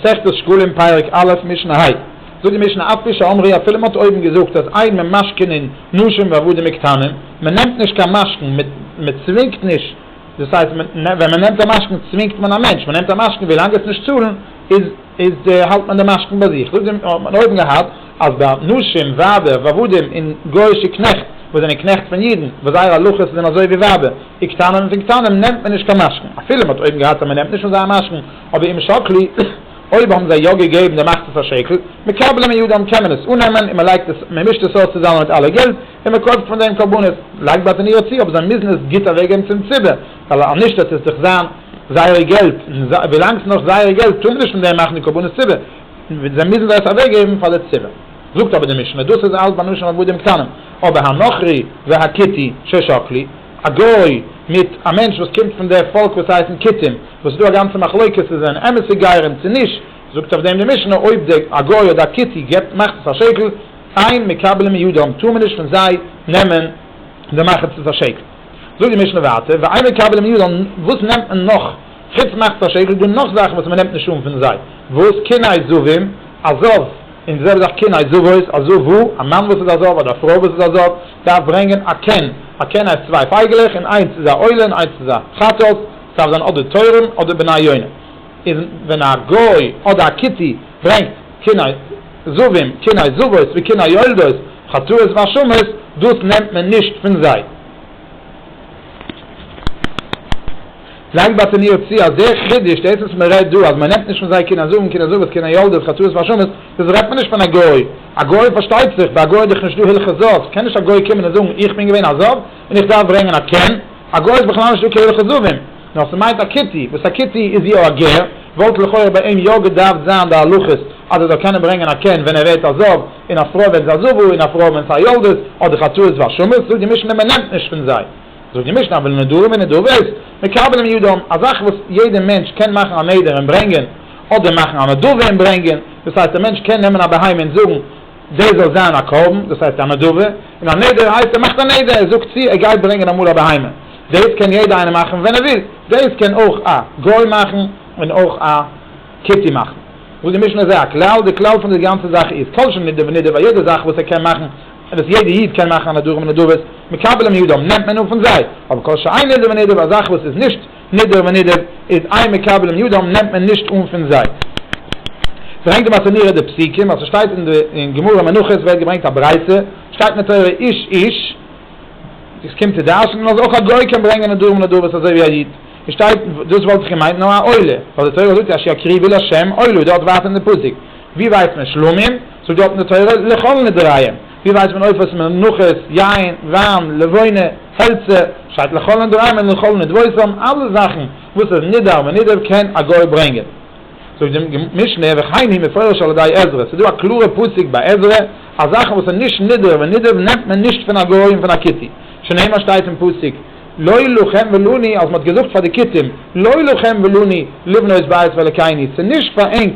מסכת שקלים פרק א' משנה ה, זאגט די משנה אף פי שאמרי אפילו מען האט אויבן געזאגט אז אין ממשכנין נשים ועבדים וקטנים, מען נעמט נישט קיין משכון, מען צווינגט נישט, דאס הייסט ווען מען נעמט א משכון צווינגט מען א מענטש, מען נעמט א משכון ווי לאנג עס נישט צאלן איז האלט מען די משכון ביי זיך, זאגט די משנה האט מען אויבן געהאט אז ביי נשים ווייבער ועבדים און גוי'שע קנעכט וואס זענען קנעכט פון אידן וואס זייער הלכות זענען אזוי ווי ווייבער וקטנים און פון קטנים נעמט מען נישט קיין משכון, אפילו מען האט אויבן געהאט אז מען נעמט נישט פון זיי א משכון, אבער אם שקלי, אויב האבן זיי יא געגעבן דעם אכטערס א שקל, מקבלים אין יודען קען מען עס אננעמען און מען לייגט עס, מען מישט עס אויס צוזאמען מיט אלע געלט און מען קויפט פון דעם קרבנות, לייגט ביי תניאו צו, אבער זיי מוזן עס גוט אוועקגעבן צום ציבור, ווייל אנישט וועט עס דאך זיין זייער געלט, און ווילאנג ס'איז נאך זייער געלט טאר מען נישט פון דעם מאכן די קרבנות ציבור, זיי מוזן זיי עס אוועקגעבן פאר די ציבור. זאגט אבער די משנה, דאס איז אלץ ביי נשים עבדים קטנים, אבער הנכרי והכיתי ששקלי, א גוי מיט א מענטש וואס קומט פון די פאלק וואס הייסן כיתים, וואס ס'איז דא א גאנצע מחלוקה צו זענען אמת'ע גרים צו נישט, זאגט אויף דעם די משנה, אויב די א גוי אדער א כיתי געבט מחצית השקל, אין מקבלים מידם, טאר מען נישט פון זיי נעמען די מחצית השקל. זאגט די משנה ווייטער, ואין מקבלים מידם, וואס נעמט מען נאך חוץ מחצית השקל, איז דא נאך זאכן וואס מ'נעמט נישט אן פון זיי, וואס? קני זהבים, א זהב. און זאג דאך קין אזו וואס אזו וואו, א מאן וואס איז אזו וואו אדער א פרוי וואס איז אזו וואו, דארף ברענגען א קן, א קן הייסט צוויי פייגעלעך און איינס איז א עולה און איינס איז א חתול, ס'דארף זיין אדער תורם אדער בני יונה, איז ווען א גוי אדער א כיתי ברענגט קין זבים, קין זבות וקין היולדות, חטאות והשמות, דאס נעמט מען נישט פון זיי. פרעגט בת עניו צי אזא חידוש דאס וואס מען רעדט דא אז מען נעמט נישט פון זיי קינער זאגן קינער זוות קינער יולדות חתולות ואשמות דאס רעדט מען נישט פון א גוי א גוי פארשטייט זיך ביי א גוי איז דאך נישט דא הלכות זאב קען נישט א גוי קומען און זאגן איך בין געווען א זאב און איך דארף ברענגען א קען א גוי איז בכלל נישט דא קיין הלכות זאבים נאר ס'מיינט א כתי וואס א כתי איז יא א גר וואלט לכאורה ביי אים יא געדארפט זיין די הלכות אז ער זאל קענען ברענגען א קען ווען ער ווערט א זאב און א פרוי ווען זיי זוו און א פרוי ווען ס'איז א יולדות אדער חתולות ואשמות זאגט די משנה מען נעמט נישט פון זיי. זאגט די משנה אבל נדרים ונדבות מקבלים ידם, א זאך וואס יעדער מענטש קען מאכן א נדר און ברענגען, אדער מאכן א נדבה און ברענגען, דאס הייסט א מענטש קען נעמען א בהמה און זאגן דאס זאל זיין א קרבן, דאס הייסט א נדבה, און א נדר הייסט ער מאכט א נדר, ער זאגט צו ער גייט ברענגען אמאל א בהמה, דאס קען יעדער איינער מאכן ווען ער וויל, דאס קען אויך א גוי מאכן און אויך א כתי מאכן, זאגט די משנה אזוי א כלל, די כלל פון די גאנצע זאך איז כל שנדר ונדבה, יעדע זאך וואס ער קען מאכן, און וואס יעדער איד קען מאכן א נדרים און נדבות, מקבלים מידם, נעמט מען אן פון זיי, אבער כל שאין נדר ונדב, א זאך וואס איז נישט נדר ונדב, איז איין מקבלים מידם, נעמט מען נישט אן פון זיי. ברענגט די מס' נראה די פסוקים, אז ס'שטייט אין די אין גמרא מנחות ווערט געברענגט א ברייתא, שטייט אין די תורה איש איש, דאס קומט צו דרש'נען אז אויך א גוי קען ברענגען נדרים און נדבות אזוי ווי א איד, און שטייט דאס וואלט איך געמיינט נאר א עולה, ווייל די תורה זאגט אשר הקריבי לשם עולה, דארט ווייטער אין די פסוק. ווי ווייסט מען שלמים? זאגט דארטן די תורה, לכל נדריים. ווי ווייסט מען עופות, מנחות, יין, וויין, לבונה, העלצער? שטייט לכל נדריים און לכל נדבותם, אלע זאכן וואס איז נדאר ונדב קען א גוי ברענגען. זאגט די משנה, וכן היא מפורש על ידי עזרא, ס'איז דא א קלארע פסק ביי עזרא, אז זאכן וואס איז נישט נדאר ונדב נעמט מען נישט פון א גוי און פון א כותי, שנאמר שטייט אין פסוק, לא לכם ולא לי, אז מ'האט געזאגט פאר די כותים, לא לכם ולא לי, לבנות בית ואלוקינו, ס'איז נישט פאר ענק,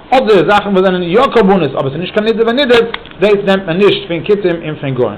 אדער זאכן וואס זענען יא קרבנות אבער ס'איז נישט קיין נדב ונידב, דאס נעמט מען נישט פון כותים און פון גוים.